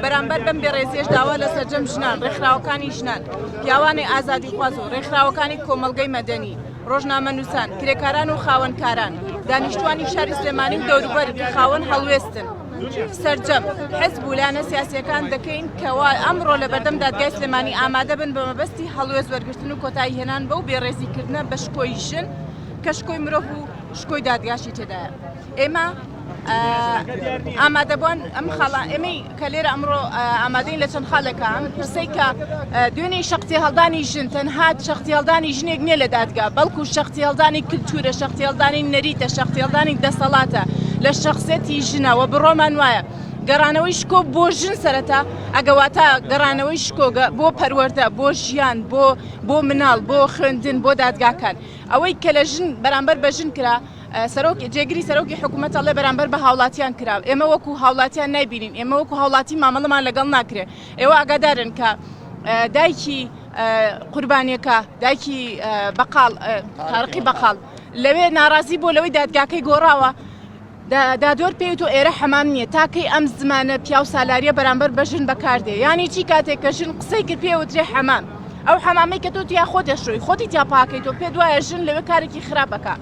بەرامبەر بەم بێڕێزیەش داوا لە سەرجەم ژنان، ڕێکخراوەکانی ژنان، پیاوانی ئازادیخواز و ڕێکخراوەکانی کۆمەڵگەی مەدەنی، ڕۆژنامەنووسان، کرێکاران و خاوەنکاران، دانیشتووانی شاری سلێمانی و دەوروبەری کە خاوەن هەڵوێستن، سەرجەم حزب و لایەنە سیاسییەکان دەکەین کەوا ئەمڕۆ لەبەردەم دادگای سلێمانی ئامادە بن بە مەبەستی هەڵوێست وەرگرتن و کۆتایی هێنان بەو بێڕێزیکردنە بە شکۆی ژن کە شکۆی مرۆڤ و شکۆی دادگاشی تێدایە. ئێمە ئامادەبوان ئەم خاڵە ئێمەی کە لێرە ئەمڕۆ ئامادەین لە چەند خالەکە ئەم پرسەی کە دوێنێ شختی هەڵدانی ژن تەنهات شختی هەڵدانی ژنێک نیە لە دادگا بەڵکو شختی هەڵدانی کللتورە شختی هەڵدانی نەریتە شختی هەڵدانی دەسەڵاتە لە شخصەتی ژنەوە بڕۆمان وایە. گەڕانەوەی شکۆ بۆ ژن سەرەتا ئەگەواتە گەڕانەوەی شکۆگە بۆ پەروەەردە بۆ ژیان بۆ بۆ مناڵ بۆ خوێندن بۆ دادگاکان ئەوەی کە لە ژن بەرامبەر بە ژن کرا سەرۆک جێگری سەرۆکی حکومەت ئەڵێ بەرامبەر بە هاوڵاتیان کرا ئێمە وەکو هاوڵاتیان نایبینین ئێمە وەکو هاوڵاتی مامەڵەمان لەگەڵ ناکرێ ئێوە ئاگادارن کە دایکی قوربانیەکە دایکی بەقال تارقی بەقال لەوێ ناڕازی بۆ لەوەی دادگاکەی گۆڕاوە دادۆر پێ تۆ ئێرە حەمام نییە تاکەی ئەم زمانە پیاو سالاریە بەرامبەر بە ژن بەکاردێ ینی چی کاتێک کە ژن قسەی کرد پێوترێ حەمام ئەو حەمامی کە تۆ تیا خۆ دەشۆی خۆتی تیا پاکەی تۆ پێ دوایە ژن لەوێ کارێکی خراپەکە